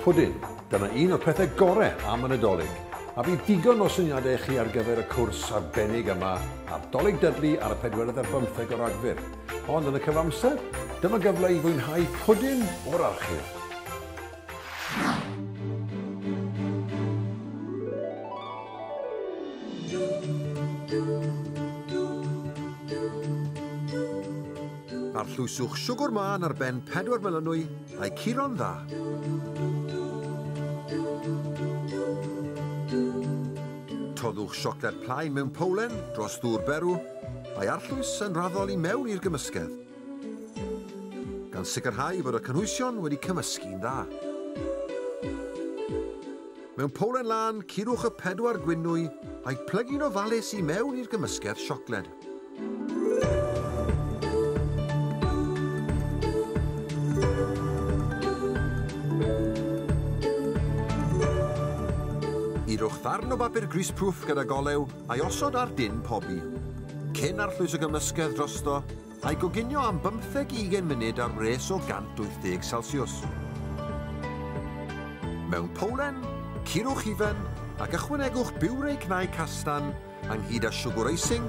Pwdin, dyna un o'r pethau gore am y Nadolig, a bydd digon o syniadau i chi ar gyfer y cwrs arbennig yma ar Dolig Dudley ar y pedwerydd ar bymtheg o Ragfyr. Ond yn y cyfamser, dyma gyfle i fwynhau pwdin o'r archif. Arllwyswch siwgr mân ar ben pedwar melynwy a'u curo'n dda. Toddwch siocled plaen mewn powlen dros ddŵr berw, a'i arllwys yn raddol i mewn i'r gymysgedd. gan sicrhau fod y cynhwysion wedi cymysgu'n dda. Mewn powlen lân, curwch y pedwar gwinwy a'u plygu'n ofalus i mewn i'r gymysgedd siocled. Yrwch ddarn o bapur greaseproof gyda golew A'i osod ar dân pobi, cyn arllwys y gymysgedd drosto, a'i goginio am bymtheg i ugain munud ar wres o 180 Celsiws. Mewn powlen, curwch hufen ac ychwanegwch biwrei cnau castan ynghyd â siwgwr icing,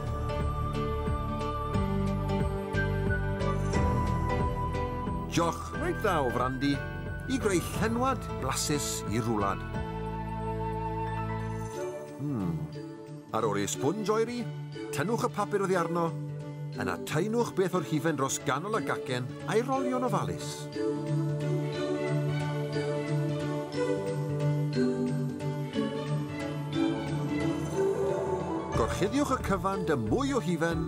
Jioch reit dda o frandi i greu llenwad blasus i'r rwlad. Hmm. Ar ôl i'r sponj oeri, tynnwch y papur oddi arno, yna taenwch beth o'r hufen dros ganol y gacen a'i rolio'n ofalus. Gorchuddiwch y cyfan dy mwy o hufen,